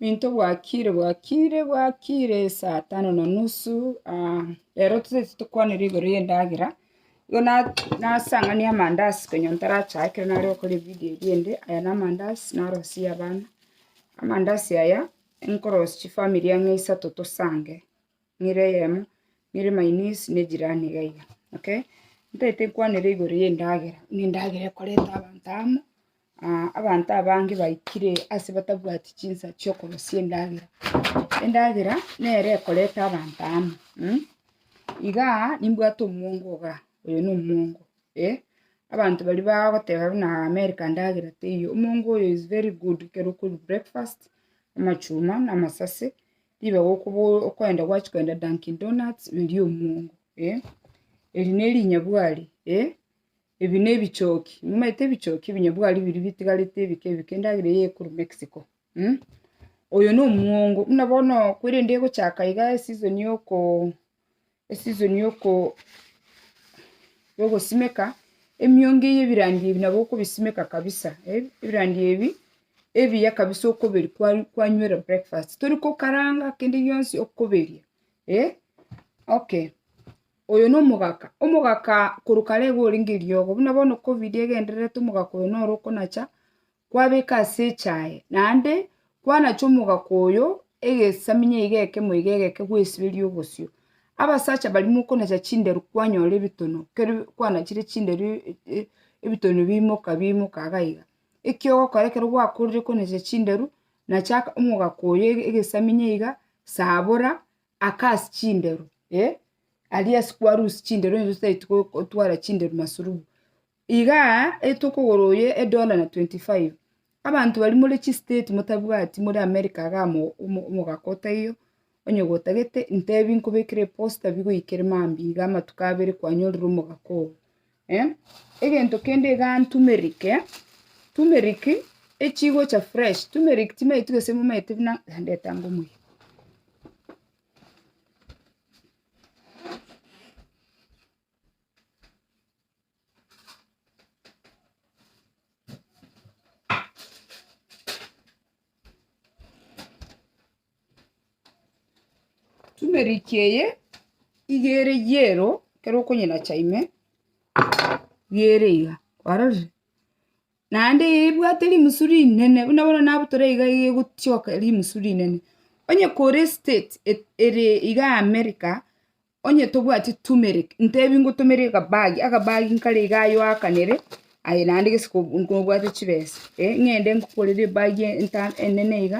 Into bwakire bwakire bwakire saa tano na nusu, rero tose tokwanire igoro y'endagera, igo na- nasang'ania amandazi konya ntarachae ekero nare gokora evidio eria ende, aya na amandazi narosie abana, amandazi aya, nkorosie chifamiri ang'e isato tosange. nere eyemo, nere my niece ne jirani iga iga, okay. Ntagete nkwanere igoro y'endagera, buna endagera ekoreta abanto amo, abanto abange baikire ase batabwati chinsa chi'okorosia endagera. Endagera nere ekoreta abanto amo, igaa nimbwate omwongo igaa, oyo na omwongo, eh, abanto baria bagoteba buna america ndagera teiyo, omwongo oyo is very good ekero okorwa breakfast, amachuma na amasase. Ribe gokobo- okoenda gwachia koenda Dunkin Donuts erio omuongo, eh, eri ne erinyabwari, eh, ebi ne ebichoki, momaete ebichoki ebinyabwari biria bitigarete ebike ebike endagera eye ekorwa Mexico, oyo na omuongo, buna bono korende egochaka iga eseason ya oko. esizoni yogosimeka, emiongo eye ebirandi ebi nabo okobisimeka kabisa, ebirandi ebi ebiya kabisa okoberia kwa- kwanywera breakfast, tori kokaranga kende gionsi okoberia eh, okay. Oyo na omogaka, omogaka korwa kare iga orenge eriogo, buna bono covid egendererete omogaka oyo noro okonacha, Kwabeka ase echaye, naende kwanachwa omogaka oyo egesaminya iga ekemo iga egeke gwesiberia obosio. Abasacha baria mokonacha chinderu kwanyora ebitono, keri kwanachire chinderu ebitono biimoka biimoka iga iga. Eki ogokora ekero gwakorire konacha chinderu, nacha omogaka oyo ege- egesaminya iga, sabora, aka ase chinderu, eh, aria ase kwarusia chinderu onye totaeti go- gotwara chinderu masurubu. Iga etokogora oye edola na 25. Abanto bari more chi state motabwati more America iga amo omogaka otaiyo onye gotagete intebi nkobekere eposta bigoikere mambi iga amatuko abere kwanyorire omogaka oo. Egento kende iga turmeric, turmeric echigocha fresh turmeric timanyeti gose momanyete buna ndetanga omuya. Turmeric eye iga ere yellow ekero okonyenacha ime, iga ere iga, kwarorire? Naende eye ebwate rimusu rinene buna bono nabutore iga iga egotioka rimusu rinene. Onye kore estate e- ere iga America, Onye tobwati turmeric, ntebi ngotomere akabagi, akabagi nkare iga aye oakanere, aye naende gese ko- ko- kobwate chibesa, eh, ng'ende ngokorere ebagi enta enene iga,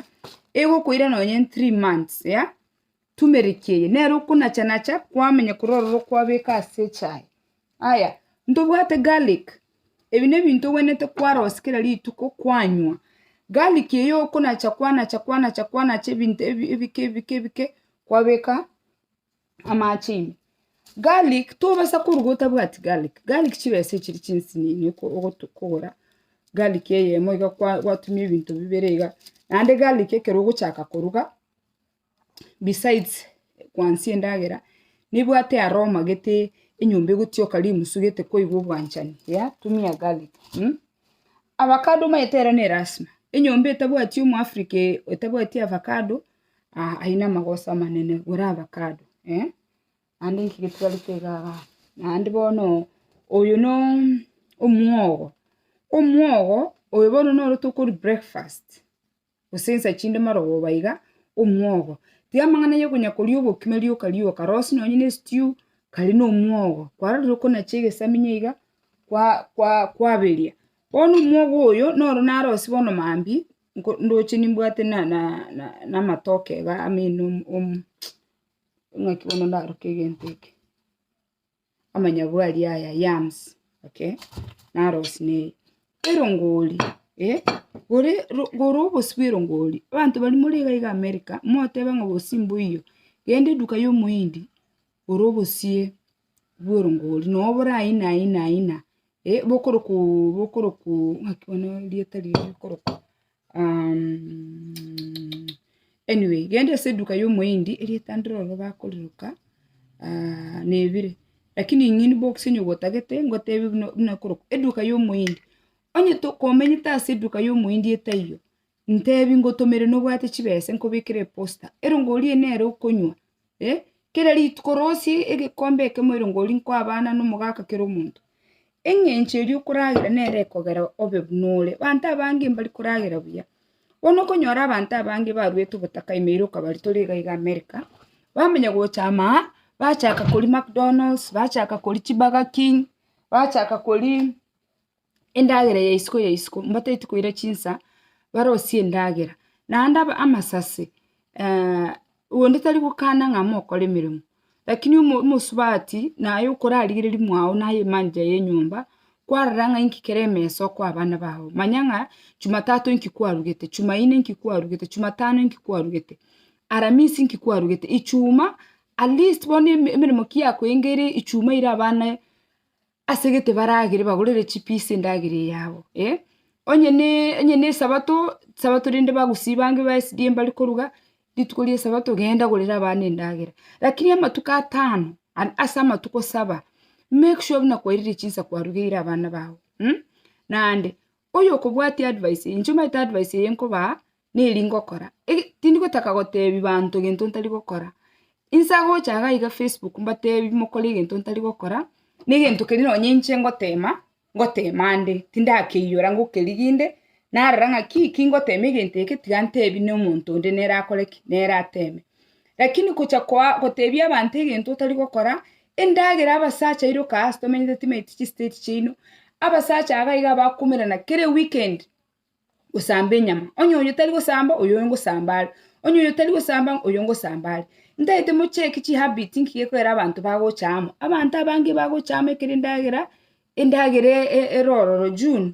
egokoira nonye in three months, ya, turmeric eye, nere okonacha nacha, kwamenya korwa ororo kwabeka ase echae. Aya, ntobwate garlic, ebi ne ebinto ogwenerete kwarosia kera rituko kwanywa, garlic eye okonacha kwanacha kwanacha kwanacha ebinto ebi- ebike ebike ebike, kwabeka. Amache ime. Garlic, tobasa koruga otabwati garlic, garlic chibesa echiri chinsinini oko- ogotu kogora garlic eyemo iga kwa- gwatumia ebinto bibere iga, naende garlic ekero ogochaka koruga, besides kwansia endagera, nebwate aroma gete enyomba egotioka rimusu gete kwaigwa obwanchani, yea, tumia garlic. Avacado omanyete ere ne elasima, enyomba etabwati omo Africa ee- etabwati avacado. aye namagoso amanene gore avacado, naende nki getwarete iga iga iga. Naende bono oyo no omwogo, omwogo oyo bono noro tokori breakfast, gose nsa chinde marogoba iga, omwogo. Tiga amang'ana ya okonya koria obokima rioka rioka, rosie nonye ne estew, kare na omwogo, kwarorire okonacha egesamiya iga, kwa kwa kwaberia. Bono omwogo oyo, noro narosie bono mambia. ndoche nimbwate namatoke iga amo ng'aki bono ndaroke egento eke, amanyabwari aya, yams, okay? Narosie na eye. Erongori, eh, gore gore obosio bwa erongori, abanto baria more iga iga america, moteba ng'a obosio mboiyo, genda eduka ya omohindi, gora obosie. bworongori, nonya boraina aina aina bokorokwa oo bokorokwa oo ng'aki bono rieta riria rikorokwa anyway genda ase eduka ya omohindi erieta ndiroro bakoriroka nebire lakini ing'ini box onya gotagete ngotebi buna buna korokwa eduka ya omohindi, onye tokomenyete ase eduka ya omohindi etaiyo, Ntebi ngotomere nobwate chibesa nkobekere eposta, erongori eye nere okonywa, eh, kera rituko rosie egekombe ekemo erongori nkoa abana na omogaka kera omonto. Eng'encho eria okoragera nere ekogera obe buna ore. Abanto abange mbari koragera buya. Bono okonyora abanto abange baruete obotaka ime ere okabari tore iga iga America, bamanya gocha ama aa, bachaka koria Macdonalds, bachaka koria chiburger king, bachaka koria endagera ya isiko ya isiko, mbataeti koira chinsa, barosie endagera. Naende aba amasase, onde tari gokana ng'a mokore emeremo, lakini omo omosubati naye okorarigereria mwao naye emanager ya enyomba, kwarora ng'a inki kere emesa okoa abana bao, manya ng'a chumatato inki kwarugete, chumaine inki kwarugete, chumatano inki kwarugete, aramisi inki kwarugete, ichuma, at least bono eme emeremo ki yakoengeire ichuma eira abana. Ase egete baragere bagorere chipiisi endagera eyabo, eh, onye ne onye ne esabato, sabato rende bagosiba ange ba SDA mbare koruga, rituko ria esabato genda gorera abana endagera. Rakini amatuko atano, an- ase amatuko saba, make sure buna kwairire chinsa kwarugeire abana bao, mh, naende, Oyokobwatia advice eye, inche omanyete advice eye nkobaa, neri ngokora, ege tindi gotaka gotebi banto egento ntari gokora, inse agocha iga iga facebook mbatebi mokore egento ntari gokora, na egento keri nonye inche ngotema, ngotema ande, tindakeiora ngokerigia inde, narora ng'aki ki ngotema egento eke tiga ntebi na omonto onde nere akore ki, nere ateme. Lakini gocha koa gotebia abanto egento otari gokora, endagera abasacha iroka ase tomenyete timaeti chistate chiaino, abasacha aba iga abakomerana kere weekend gosamba enyama, onye oyo tari gosamba oyo ngosamba are, onye oyo tari gosamba oyo ngosamba are. Ntaete mocheke chihabit nki gekoera abanto bagocha amo, abanto abange bagocha amo ekero endagera, endagera e- e- erororo June.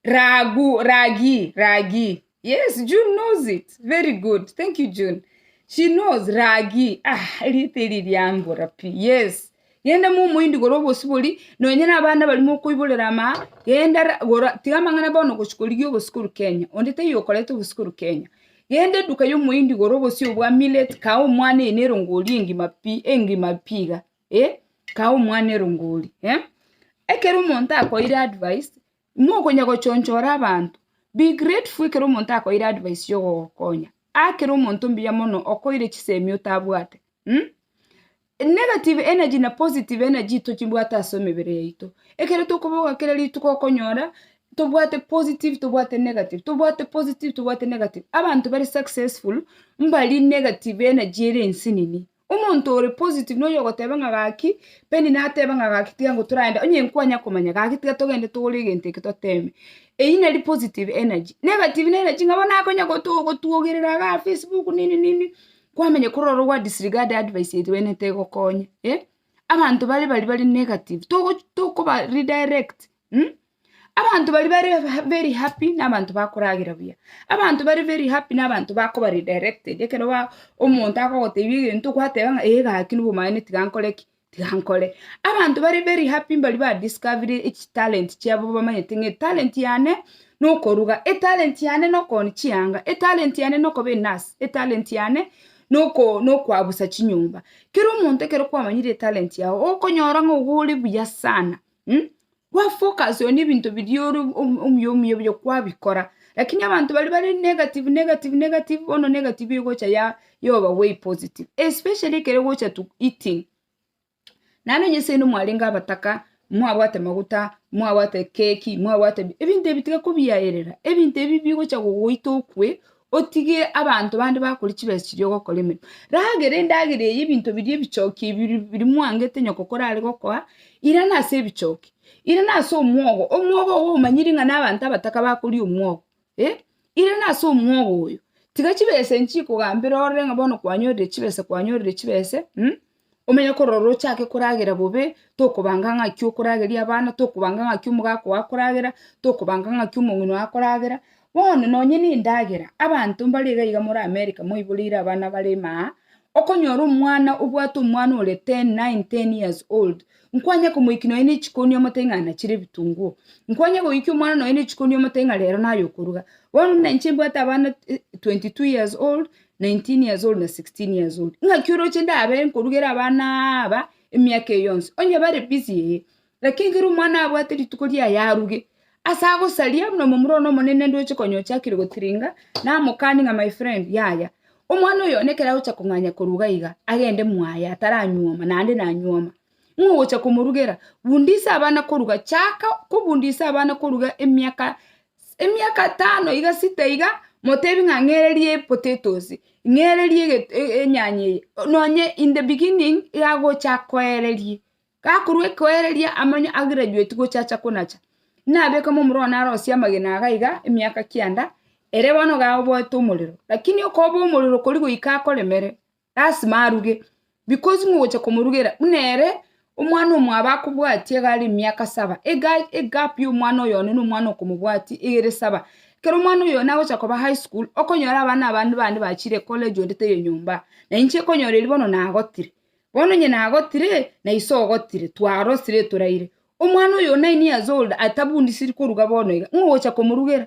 Ragu, ragi, ragi. Yes, June knows it. Very good. Thank you, June. She knows ragi. Ah, erite eri riambora pi. Yes. Genda mu omoindi gora obosibori, nonye na abana barimo okoiborera ama, genda ra- gora, tiga amang'ana bono gochia korigia obosikuru Kenya. Onde taiyo okoreta obosikuru Kenya. Genda eduka ya omoindi gora obosio bwa millet, kaa omwana eye nerongo orie engima pi, engima pi iga. eh, kaa omwana erongori eh. Ekero omonto akoeire advice, nokonya gochonchora abanto, be grateful ekero omonto akoeire advice ya ogogokonya, akere omonto mbuya mono okoeire chisemi otabwate mh, negative energy na positive energy tochibwate ase emebere yaito, ekero tokobogoa kera rituko okonyora tobwate positive tobwate negative, tobwate positive tobwate negative, abanto bare successful mbari negative energy ere ensinini, Omonto ore positive noyo ogoteba ng'a gaki, Penny nateba ng'a gaki tiga ngo toraende, onye nkwanya komanya, gaki tiga togende togore egento eke toteme. Eyio nari positive energy. Negative ne energy ng'a bono akonya goto gotwogerera iga facebook nini nini, kwamenya korora ogwa disregard advice eye buna tegokonya, eh. Abanto bare baria bare negative, togo tokoba redirect. Abanto baria bare ha- very happy nabanto bakoragera buya, abanto bare very happy nabanto bakoba redirected ekero ba omonto agogotebi egento gwateba ng'a eh gaki nobomanyene tiga nkore ki, tiga nkore. Abanto bare very happy mbaria ba discovire echitalent chiabo bamanyete ng'a etalent yane nokoruga, etalent yane nokoonia chianga, etalent yane nokoba enurse, etalent yane noko nokoabusa chinyomba. Kera omonto ekero kwamanyire etalent yago, okonyora ng'a ogo ore buya sana, mh. Kwa focus on ebinto biria ore om- omuya omuya buya kwabikora, lakini abanto baria bare negative negative negative bono negative egocha ya ya over weigh positive, especially ekero ogocha to eating, naende onye seino mwarenge abataka, mwabwate maguta, mwabwate keki, mwabwate bi ebinto ebi tiga kobiyaerera, ebinto ebi bigocha gogoita okwe, otige abanto bande bakore chibesa chiria ogokora emeremo. Ragera endagera eye ebinto biria ebichoki ebi biri biri mwangete nyoko korare gokoa, irana ase ebichoki, irana ase omwogo, omwogo ogo omanyiri ng'a na abanto abataka bakoria omwogo, eh, irana ase omwogo oyo, tiga chibesa echi chikogambera orore ng'a bono kwanyorire chibesa kwanyorire chibese. Omenye korora ochake koragera bobe, tokobanga ng'aki okorageria abana, tokobanga ng'aki omogaka oo akoragera, tokobanga ng'aki omong'ina oo akoragera, bono nonye na endagera, abanto mbare iga iga more America moiboreire abana bare maa, okonyora omwana obwate omwana ore ten, nine, ten years old, nkwanye komoiki nonye na echikoni omotebi ng'a ana chire ebitunguo, nkwanye goikia omwana nonye na echikoni omotebi ng'a rero naye okoruga, bono buna inche mbwate abana twenty two years old, 19 years old na 16 years old ng'aki oroche ndabe nkorugera abana aba emiaka eye yonsi onye bare busy ee lakini ekero omwana abwate rituko riaye aruge ase agosaria buna omomura one omonene ndoche konya ochakire gotiringa namokani ng'a my friend yaya omwana oyo one ekero agocha kong'anya koruga iga agende mwaye ataranyuoma naende nanyuoma nigo ogocha komorugera bundisa abana koruga chaka kobundisa abana koruga emiaka. Emiaka tano iga sita iga, motebi ng'a ng'ereria epotatoes, ng'ereria eget enyanya eye, nonye in the beginning iga agocha akoererie. Gakorwa ekoereria amanye agraduate gocha acha konacha, nabeke mo omoroo narosie amagena iga iga emiaka kianda, ere bono iga oboete omorero, lakini okoba omorero kori goika akoremere. lasima aruge, because ng'a ogocha komorugera buna ere omwana omwabo akobwatie iga are emiaka saba, iga egap ya omwana oyo one na omwana okomobwatia iga ere saba. Ekero omwana oyo one agocha koba high school, okonyora abana abande bande bachire ecollege onde taiyo nyomba, na inche okonyora erio bono nagotire, bono onye nagotire, na ise ogotire, twarosire toraire. Omwana oyo o nine years old atabundisiri koruga bono iga, ng'a ogocha komorugera,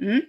Mh,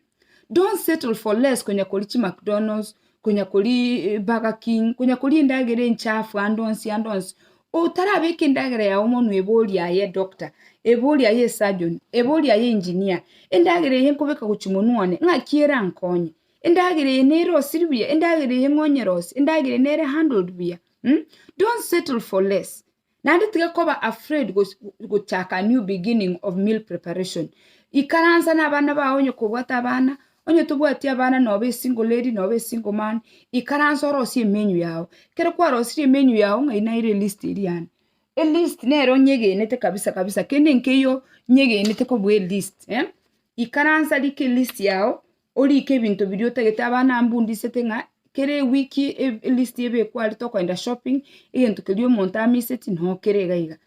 don't settle for less konya koria chi McDonald's, konya koria eh, Burger King, konya koria endagera enchafu ande onsi ande onsi. Otarabeka endagera yao omonwe ebori aye edoctor, ebori aye esurgeon, ebori aye engineer, endagera eye nkobeka gochia monwe one, ng'aki erankonye? Endagera eye nere osiri buya, endagera eye ng'onyerose, endagera eye nere handled buya, mh, don't settle for less. Naende tiga koba afraid gochaka a new beginning of meal preparation. Ikaransa nabana bao onye kobwate abana, onye tobwati abana nobe a single lady nobe a single man, ikaransa orosie emenu yao. Ekero kwarosirie emenu yao ng'ai naira elist eria ande. Elist nere onyegenete kabisa kabisa kende nkeiyo onyegenete kobua elist eh. Ikaransa rika elist yao. Orike ebinto biria otagete, abana aba mbundisete ng'a kera ewiki e- elist ebekwe aria tokoenda shopping, egento keria omonto amiseti noo kere iga iga.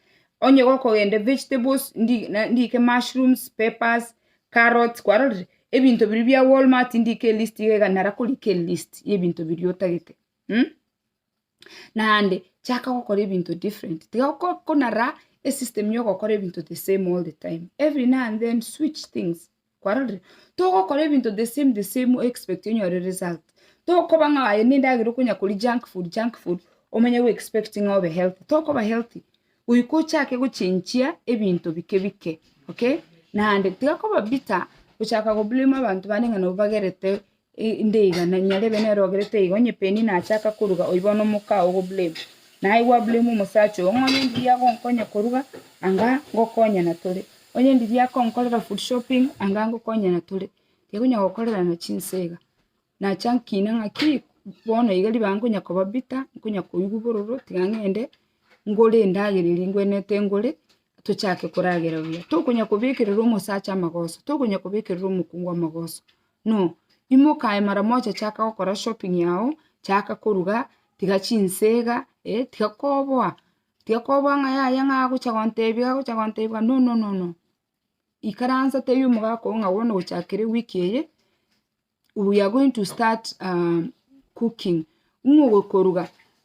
Onye gokogenda evegetables, ndi na ndike mushrooms, peppers, carrots, kwarorire? Ebinto biria bia walmart ndike elist iga iga nara korika elist ya ebinto biria otagete. naende chaka gokora ebinto different tiga ko- konara esystem ya ogokora ebinto the same all the time, every now and then switch things, kwarorire? Togokora ebinto the same the same o-expect onyore result, tokoba ng'a aye ninde agere okonya koria junk food junk food omanye go-expect ng'a obe healthy, tokoba healthy, goika ochake gochenchia ebinto bike bike, okay? Naende tiga koba bitter gochaka go blame abanto bande ng'a nabo bagerete Indeigana, nyarebe nerogerete igo, onye Penny nachaka koruga, oiba one omoka oo goblamu. Naye gwablamu omosacha oo, ng'o onye ndiria agonkonya koruga, anga ngokonyana tore. Onye ndiria akonkorera food shopping, anga ngokonyana tore. Tikonya gokorerana chinsa iga. Nacha nkina ng'aki, bono iga ribaga nkonya koba bitter, nkonya koigwa bororo, tiga ng'ende ngore endagera eria ngwenerete ngore, tochake koragera buya. Tokonya kobekerera omosacha amagoso, tokonya kobekerera omokungu amagoso. No, imoka aye mara mocha chaka gokora shopping yao, chaka koruga, tiga chinse iga, eh, tiga koboa, tiga koboa ng'a yaya ng'a agocha gontebia agocha gontebia no no no no, ikaransa tebia omogaka oo ng'a bono gochakera ewiki eye, we are going to start cooking, Ing'ogokoruga,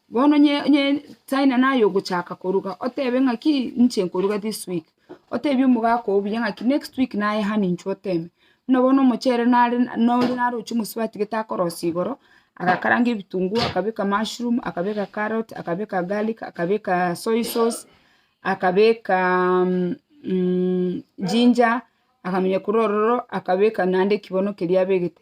bono onye onye China naye ogochaka koruga otebe ng'aki inche nkoruga this week, otebie omogaka oo buya ng'aki next week naye hano intwe oteme. Buna bono omochere nare nore naroche omosubati gete akorosia igoro, agakaranga ebitunguo, akabeka mushroom, akabeka carrot, akabeka garlic, akabeka soy sauce, akabeka ginger, akamenya korwa ororo akabeka naende ekibono keria abegete.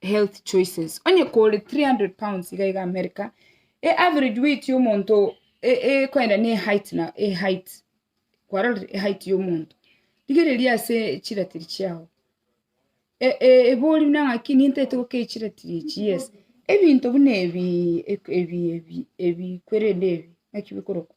health choices onye kore 300 pounds iga iga America e average weight ya omonto ekoenda ne height na height kwarorire height ya omonto rigereria ase chiratiri chiago ebori buna ngaki nintagete gokei chiratiri echi yes ebinto buna ebi ebi ebi ebi kwerende ebi naki bikorokwa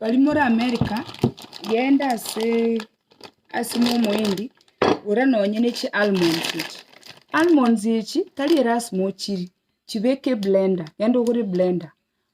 Bari more America, genda asee asimo omoindi gora nonye ne chi almonds echi, almonds echi tari erasima ochiri, chibeke eblender, genda ogore eblender.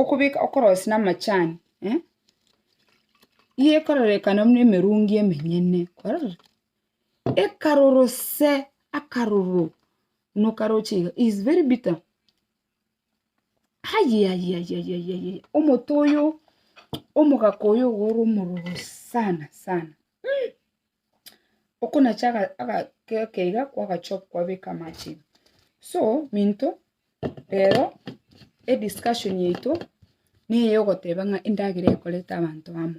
Okobeka okorosi na amachani nigo ekororekana buna emerungi emenyene, kwarorire? Ekarorose akaroro buna okaroche iga is very bitter ayayayayayaya omote oyo omogaka oyo iga ore omororo sana sana. okonacha agakeka iga kwagachoka kwabeka amache so minto rero ediscussion yaito neye ogoteba ng'a endagera ekoreta abanto amo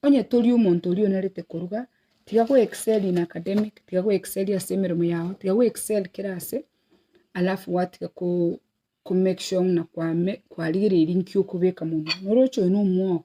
onye tori omonto oria onarete koruga tiga go excel in academic tiga go excel ase emeremo yago tiga go excel kera ase alafu gwatiga ko make sure ng'a kwarigereiri nki okobeka monwe noroche oyo nomwogo.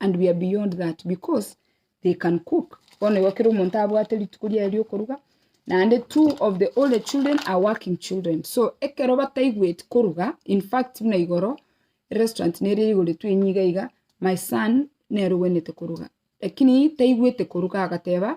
and we are beyond that because they can cook bono igo kera omonto abwate rituko riaye riokoruga naende two of the older children are working children so ekero bataigweti koruga in fact buna igoro restaurant nere eigoretwe enyia iga iga my son nere ogwenerete koruga lakini taigwete koruga agateba.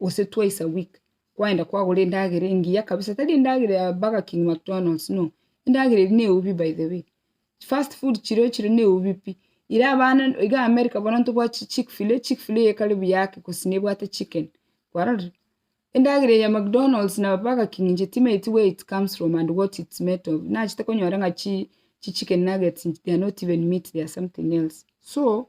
gose twice a week, kwaenda kwagora endagera engiya kabisa, tari endagera ya burger king, mcdonalds, no, endagera eria neubi by the way, fast food chiria ochire neubi pi, ira abana iga america bono ntobwati chick fil, chick fil eye kare buya ake gose nebwate chicken, kwarorire? Endagera eye ya mcdonalds na burger king inche timanyeti where it comes from and what it's made of, nachete konyora ng'a chi chicken nuggets they are not even meat they are something else, so.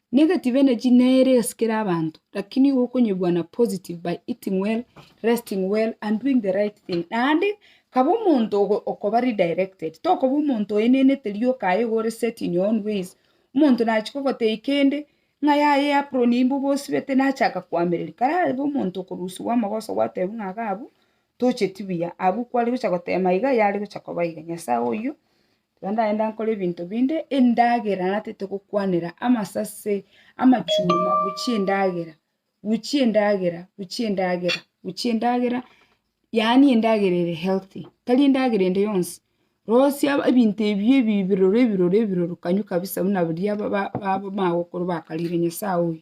Negative energy nere esikera abanto lakini igo okonyebua na positive by eating well, resting well and doing the right thing. Naende kaba omonto okoba redirected, tokoba omonto oenenete rioka aye iga ore set in your own ways, omonto nachia kogotebia kende, ng'a yaya eapron imbe obosibete nachaka koamereria, karabe omonto okorusiwa amagoso gwatebiwa ng'a iga abwo tocheti buya, abwo kware gocha gotema iga yare gocha koba iga. Nyasae oyio Tiga ndagende nkore ebinto binde endagera natete gokwanera amasase, amachuma, gochia endagera, gochia endagera, gochia endagera, gochia endagera, yaani endagera ere healthy, tari endagera ende yonsi, rosia ebinto ebio ebi biroro ebiroro ebiroro kanywe kabisa buna biria ba- ba- bamanya gokora bakarire nyasae oyo.